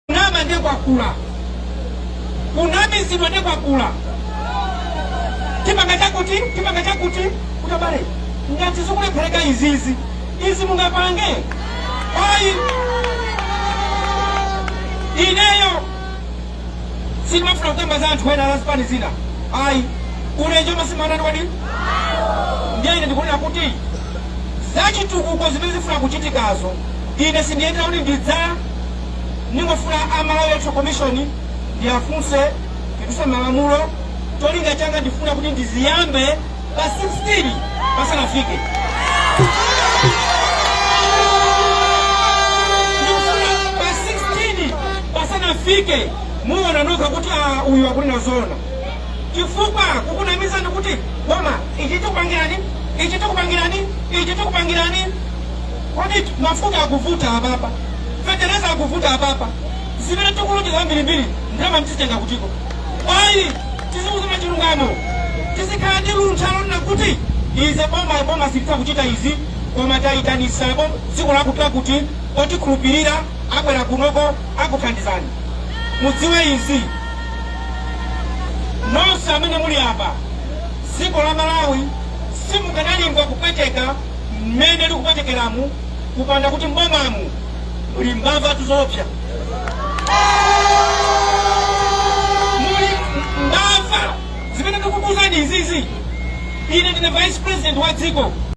kunama nde kwakula kunamizidwa nde kwakula chipanga chakuti chipanga chakuti kutabale ngati zikulephereka izizi izi mungapange ayi ineyo sindimafuna kukamba za anthu ena azipani zina ayi ulenje umasimba wako ndiye ine ndikunena kuti zachitukuko zimene zifuna kuchitikazo ine sindiyendera kuti ndidza Ndingofuna a Malawi Electoral Commission ndiwafunse ndikutse malamulo cholinga changa ndifuna kuti ndiziyambe pa 16 pasanafike Ndikufuna pa 16 pasanafike muona nokha kuti ah, uyu akunena zoona chifukwa kukunamizani kuti boma ichi tikupangirani ichi tikupangirani ichi tikupangirani Kodi mafuta akuvuta apapa? Fetereza akuvuta apapa? Zimene tikulonjeza zambirimbiri ndalama tizitenga kutiko? Ayi, tiziuzana chilungamo. Tizikhala ndi luntha lonena kuti izi boma boma silitha kuchita izi koma tayitanitsa dziko lakuti lakuti otikhulupirira abwera kunoko akuthandizani. Mudziwe izi nonse amene muli apa dziko la Malawi simukadalimva kupweteka mmene likupwetekeramu kupanda kuti mbomamu muli mbavatu zoopsa muli mbava zimene ndikukuuzani izizi ine ndine vice president wa dziko